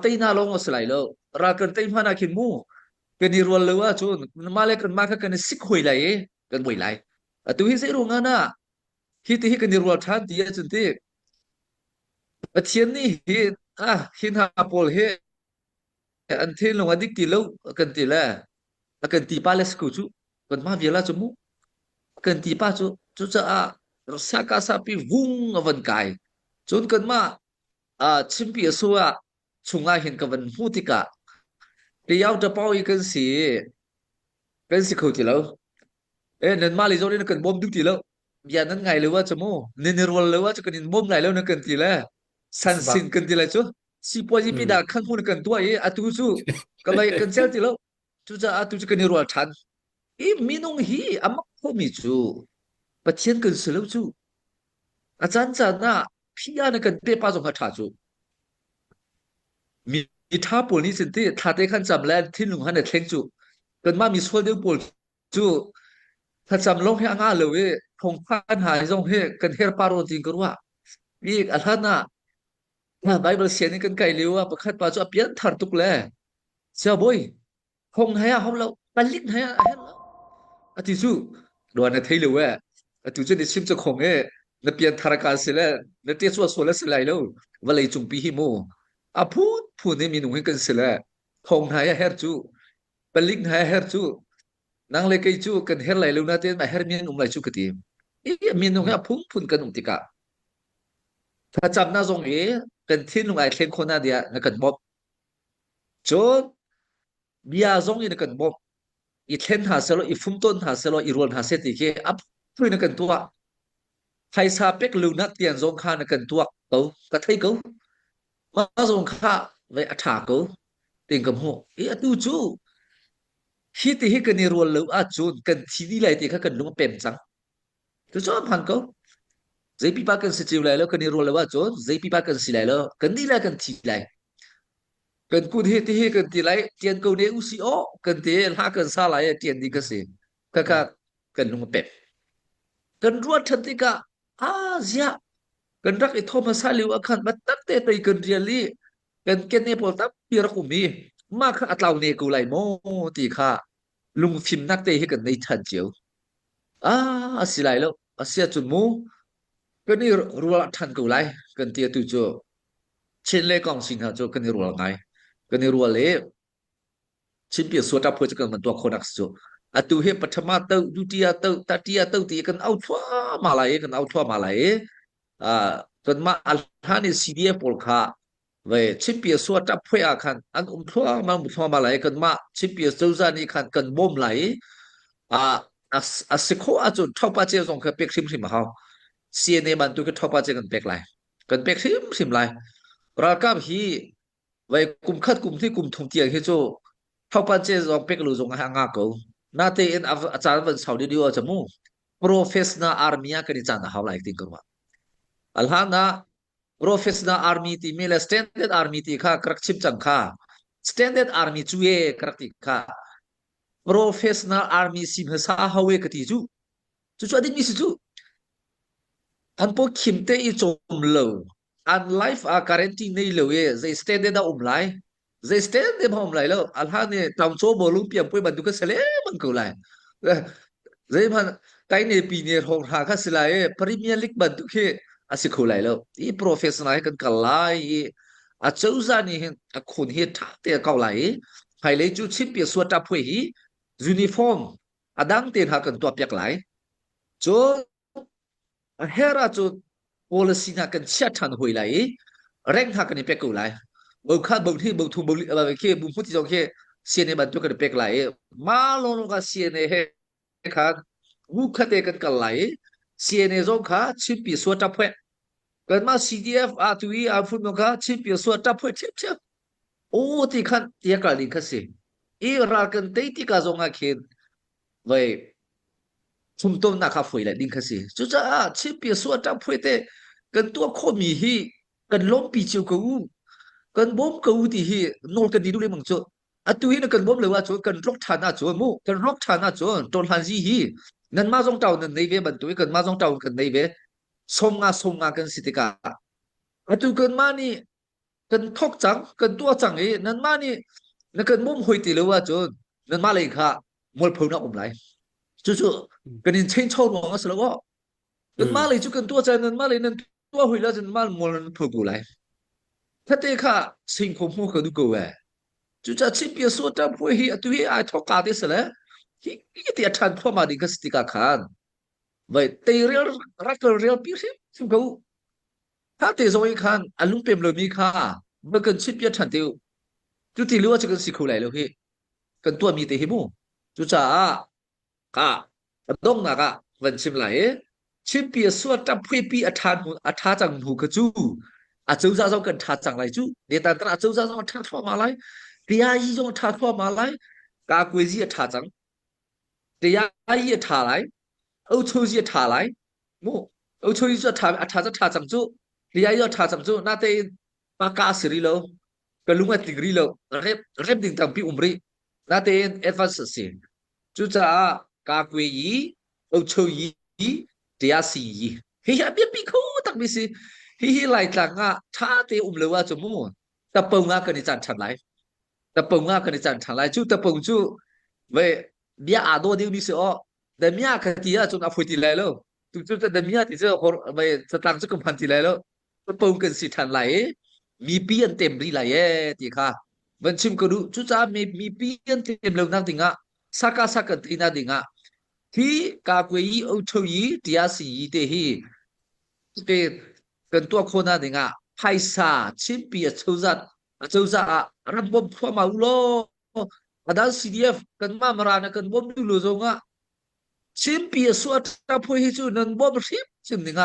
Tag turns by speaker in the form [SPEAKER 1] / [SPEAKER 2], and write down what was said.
[SPEAKER 1] teinak lawng a si lai lo ral kan tei hman ah khin mu kan i rual lo ahcun mah le kan mah kha kan i sik hoi lai i kan boi lai atu hi zeiruang ah na hi ti hi kan i rual ṭhan ti ahcun ti Pathian nih hi ah hin ha pawl hi an thil lung a dik ti lo kan ti le a kan ti pa le sku chu kan ma viala chu mu kan ti pa chu chu cha a sa ka sa pi vung avan kai chun kan ma Ah, chimpi a su ah chungah hin ka van hmuh tikah Tayau Tapau i kan si kan si kho ti lo. Eh nanmah le zawn in kan bawm duh ti lo. Bia nan ngai lo ah cha mu. Nin i rual lo ah cha kan in bawm lai lo na kan ti le. San Sebab sin kan ti lai cu. Sipuaji pi mm, da khang hun kan tua i atu cu ka vai kan cel ti lo. Cucaah tu cu kan i ruah ṭhan. I minung hi a mak khomi cu Pathian kan si lo cu. A caan caan ah phi ah na kan pe pa zong kha ṭha cu. Mi ṭha pawl nih cun ti thlate khan cam le thinlung khan a thleng cu. Kanmah mi sual deu pawl cu thlacam lawng hi a ngah lo i thawngphan hna zong hi kan herpar aw tiin ka ruah. I a hlan ah Na Baibal sian in kan kai lio ah pakhat pa cu a pianthar tuk le siabawi hong hai a hau lo palik hai a herh lo ati cu ruan na thei lo e atu cun i sim ca khong e na pianthar ka si le na tia sual sual si lai lo vawlei cungpi hi mu a phun phun in minung hi kan si le thong hai a her cu palik hai a her cu Nang le kei cu kan her lai lo na tein a hermi an um lai cu ka ti. I minung hi a phunphun kan um tikah thlacamnak zong i kan thinlung ai thleng khawh na dia na kan bawmh. Cun bia zong i na kan bawmh. I thlen hna selaw, i fumtawn hna selaw, i rual hna seh ti khi a phui na kan tuah. Phaisa pek lo nak tian zong kha na kan tuak ko. Ka thei ko. Pa zong kha vei a ṭha ko tein ka hmuh. I atu cu hi ti hi kan i rual lo ahcun kan thi dih lai ti kha kan lung a pem cang. Cucaah hmaan ko. Zei pipa kan si cio lai lo kan i rual lo ahcun zei pipa kan si lai lo kan nih lai kan thi lai. Kan kun hi ti hi kan ti lai ṭian ko ne u si aw kan ti i hla kan sa lai i ṭian dih ka si. Kaka kan lung a pem. Kan ruat ṭhan tikah a ziah kan rak i tho hmasa lio ah khan ma tamte tei kan rial i kan kenne pawl tampi rak um i mah kha atlau ne ko lai maw ti kha lungfimnak te hi kan nei than cio ah a si lai lo a si ahcun mu kan i rual than ko lai kan ti atu cu chin le kong sing hna cu kan i rual ngai kan i rual i Chinpia suata phuai cu kan van tuah khonak si cu. Atu hi pathama to duty a to tati a to ti kan au thluahmah lai i kan au thluahmah lai i uh, kanmah a hlan i CDA pawl kha vai Chinpia suata phuai ah khan an um thluahmah um thluahmah lai i kanmah Chinpia cozah nih khan kan bawm lai i uh, a si khawh ahcun thopa cia zong kha pek hrimhrim a hau. CNA bantu khi thopa cia kan pek lai. Kan pek hrimhrim lai. Ralkap hi Vai kum khat kum hnih kum thum tiang hi cu thawpan ce zong pek lu zong a nga ko. Na tein a a caan van sau ding a chamu. Professional army a kan i caan a hau like ting ko ma. Alhana professional army ti me le standard army ti kha karak chim chang kha standard army chu ye karak ti kha professional army sim hasa hawe ka ti chu chu chu ading mi si chu an po khim te i chom lo an life ah quarantine nei lo i zei state de dah um lai zei state de ma um lai lo a hlan i tamcho mo lung piang poi bantuk ka sele man ko lai zei man tai ne pi ne hong ra ka si lai premier league bantuk hi asi kho lai lo i professional kan kal lai i a chozan ni hin a khun hi tha te kau lai i phailei cu champion suwa ta phoi hi uniform adang te na kan tua piak lai cun Her ah cu policy na kan chia than hoi lai i rank ha kan i pek ko lai. Bo khan bo thi bo thu bo li ba ke bu mu ti jong ke CNA ban tu kan i pek lai i ma lo lo ka CNA he khan wu khate kan kal lai i CNA zong kha chimpi suwa tap hwe kan ma CDF a tu i a fun kha chimpi suwa tap hwe thiam thiam o ti khan ya kal ding kha si i ral kan te ti ka zong a khin Voi chumtomnak kha foi le ding kha si. Cucaah chipia suah ṭang phuai te kan tuah khawhmi hi kan lawmpi cio ko u. Kan bawm ko u ti hi nawl kan ti duh lengmang cu. Atu hi na kan bawm lo ahcun kan tlok ṭhan ahcun mu kan rawk ṭhan ahcun ṭorhlan zi hi nanmah zong ṭau nan nei ve bantuin kanmah zong ṭau kan nei ve som nga som nga kan si tikah atu kanmah nih kan thok cang, kan tuah cang i nanmah nih na kan mum hoi ti lo ahcun nanmah lei kha mualphonak um lai. Cucu kan in change ruang a si lo. Nanmah lei cu kan tuah cang, nanmah lei nan tuah hoi la cun nanmah mual nan phu ko lai. Thate kha singkhom hmu ka du ko e. Cuca chipia suat ta pui hi atu hi ai thok ka te se le hi hi ti a than phuama ding ka si tika khan. Vai teirel rakal rel pi hrim hrim ko. Tate zong i khan an lungpem lomi kha va kan chimpiak ṭhan te u. Cuti lio ah cu kan si kho lai lo hi. Kan tuahmi te hi mu. Cucaah ka ka donghnak ah van chim lai i chimpi a sual ṭaphuipi a ṭha hnu a ṭha cang hnu kha cu acozah zong kan ṭha cang lai cu. Netan Tara acozah zong a ṭha thluahmah lai. Teyayi zong a ṭha thluahmah lai. Kakuezi a ṭha cang. Teyayi a ṭha lai. Ochozi a ṭha lai. mu uchu i a tha a tha a tha cang cu ria i a tha cang cu nate ma ka si ri lo ka lung a tling ri lo rem rem ding tampi um ri natein advance a si cucaah ka kwe yi uchu yi tia si yi hi hi a biapi kho tak mi si hi hi lai tlang ah tha te um lo ah cu mu tapo nga kan i chan than lai tapo nga kan i chan than lai cu tapo cu ve bia a do deu mi si o Damia ka ti ahcun a phui ti lai lo. Tucun damia ti cu hor mei satang cu kumhan ti lai lo. Po kan si ṭhan lai i mipi an tem rih lai ee ti kha van chim ka duh. Cucaah mi mipi an tem lo nak ding ah saka saka ina na ding ah hi ka kwe i o tho i tia si i te hi ke kan tua khona ding ah phaisa chimpi a chozat a chozah ah ram bom thua ma u law Adan CDF kanmah mara na kan bawm du lo zongah Chinpi a suah ṭha phui hi cu nan bawm hrim hrim ding ah